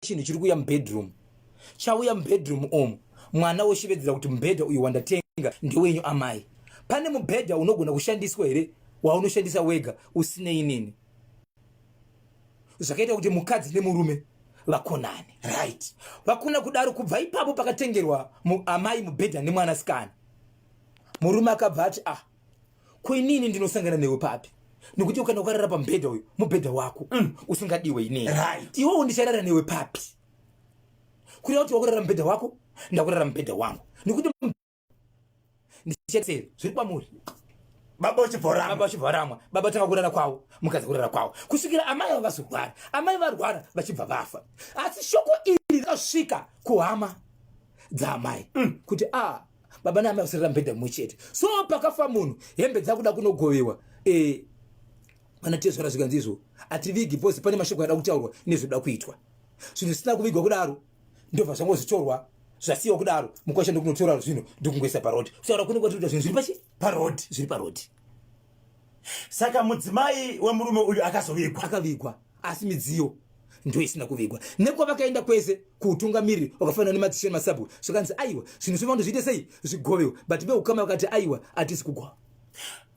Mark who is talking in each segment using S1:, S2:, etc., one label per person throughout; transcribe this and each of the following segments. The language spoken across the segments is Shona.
S1: chinhu chiri kuuya mubedroom chauya mubedroom omu mwana woshevedzera kuti mubhedha uyu wandatenga ndewenyu amai pane mubhedha unogona kushandiswa here waunoshandisa wega usinei nini zvakaita kuti mukadzi nemurume vakonane right vakona kudaro kubva ipapo pakatengerwa amai mubhedha nemwanasikana murume akabva ati ah ko inini ndinosangana newe papi nokuti ukana ukarara pamubhedha uyu mubhedha wako mm. usingadiwe inei right. iwowo ndicharara newe papi kureva kuti wakurara mubhedha wako ndakurara mubhedha wangu nokuti ndichasei zviri kwamuri baba
S2: uchivhoramwa baba uchivhoramwa baba tanga kurara
S1: kwavo mukadzi kurara kwavo kusvikira amai avo vazorwara amai varwara vachibva vafa asi shoko iri rakasvika kuhama dzaamai mm. kuti a ah, baba naamai kusirira mubhedha mumwe chete so pakafa munhu hembe dzakuda kunogovewa e, vana tezvara zvikanzi izvo hativigi bcause pane mashoko ada kutaurwa nezvoda kuitwa zvinhu zvisina kuvigwa kudaro ndobva zvangozvitorwa zvasiyiwa kudaro mukwasha ndokunotora zvinhu ndokungoisa parod kutaura kunenge kwatikuita zvinhu zviri pachi parod zviri parod
S2: saka mudzimai wemurume uyu akazovigwa akavigwa asi midziyo
S1: ndo isina kuvigwa nekwa vakaenda kwese kuutungamiriri wakafanana nemadzishe nemasabhu zvakanzi aiwa zvinhu zvevanhu zviite sei zvigovewo but veukama vakati aiwa hatisi kugwa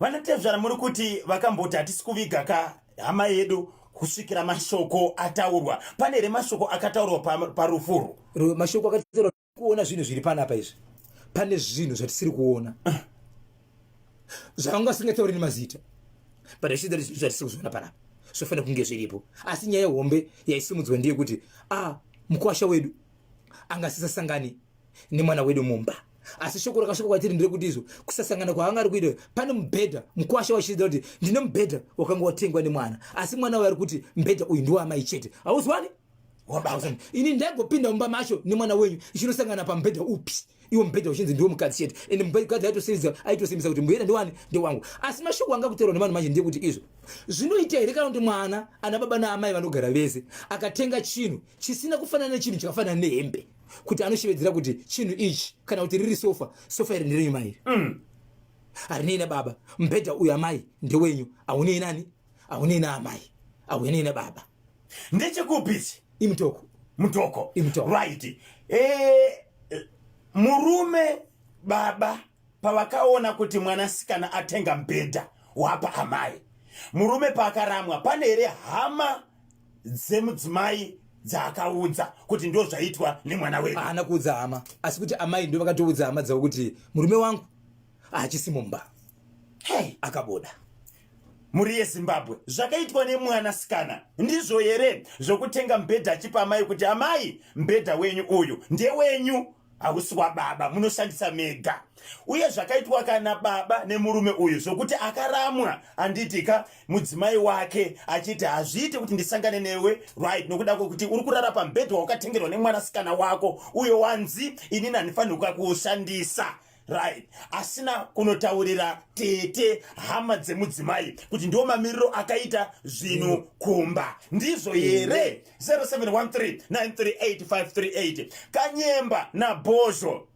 S1: vana tezvara
S2: muri kuti vakamboti hatisi kuviga ka hama yedu kusvikira mashoko ataurwa pane here mashoko akataurwa parufuru mashoko akataurwa
S1: kuona zvinhu zviri panapa izvi pane zvinhu zvatisiri kuona zvakanga singatauri nemazita but i see that zvinhu zvatisiri kuzoona panapa zvofanira kunge zviripo asi nyaya hombe yaisimudzwa ndiye kuti a ah, mukwasha wedu anga asisasangani nemwana wedu mumba asi shoko rakasvika kwatiri ndire kuti izvo kusasangana kwaanga ari kuita pane mubhedha mukwasha wachiita kuti ndine mubhedha wakanga watengwa nemwana asi mwana waari kuti mubhedha uyu ndiwaamai chete hauzwani ini ndaigopinda mumba macho nemwana wenyu ichinosangana pamubhedha upi iwo mubhedha uchinzi ndiwo mukadzi chete and mukadzi aitosimbisa aitosimbisa kuti mbuyera ndiwani ndewangu asi mashoko anga kutorwa nevanhu manje ndekuti izvo zvinoita here kana kuti mwana ana baba naamai vanogara vese akatenga chinhu chisina kufanana nechinhu chakafanana nehembe kuti anoshevedzera kuti chinhu ichi kana kuti riri sofa sofa iri ndirenyu mairi mm. harinei nababa mubhedha uyu amai ndewenyu aunei nani aunei naamai aunei nababa ndechekupisi
S2: imtoko
S1: mtoko imtoko right
S2: eh murume baba pavakaona kuti mwanasikana atenga mbhedha wapa amai murume paakaramwa pane here hama dzemudzimai dzaakaudza kuti ndo zvaitwa nemwana wedu haana kuudza hama
S1: asi kuti amai ndo vakatoudza hama dzavo kuti murume wangu haachisi mumba hey. akabuda
S2: mhuri yezimbabwe zvakaitwa nemwana sikana ndizvo here zvokutenga mbhedha achipa amai kuti amai mbhedha wenyu uyu ndewenyu hausi wababa munoshandisa mega uye zvakaitwa kana baba nemurume uyu zvokuti akaramwa andiitika mudzimai wake achiti hazviite kuti ndisangane newe right nokuda kwekuti uri kurara pambhedha wakatengerwa nemwanasikana wako uyo wanzi inini handifanirwa kuushandisa right asina kunotaurira tete hama dzemudzimai kuti ndiwo mamiriro akaita zvinhu mm. kumba ndizvo mm. here 0713938538 kanyemba nabhozho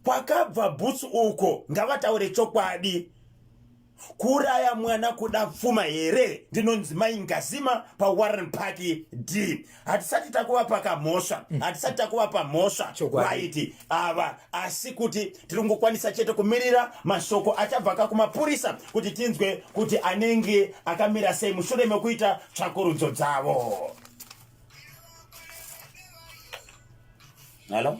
S2: kwakabva bhutsu uko ngavataure chokwadi kuuraya mwana kuda pfuma here ndinonzi mai ngazima pawarren park d hatisati takuvapa kamhosva mm. hatisati takuvapa mhosva vaiti ava asi kuti tiri kungokwanisa chete kumirira mashoko achabva ka kumapurisa kuti tinzwe kuti anenge akamira sei mushure mekuita tsvakurudzo dzavo halo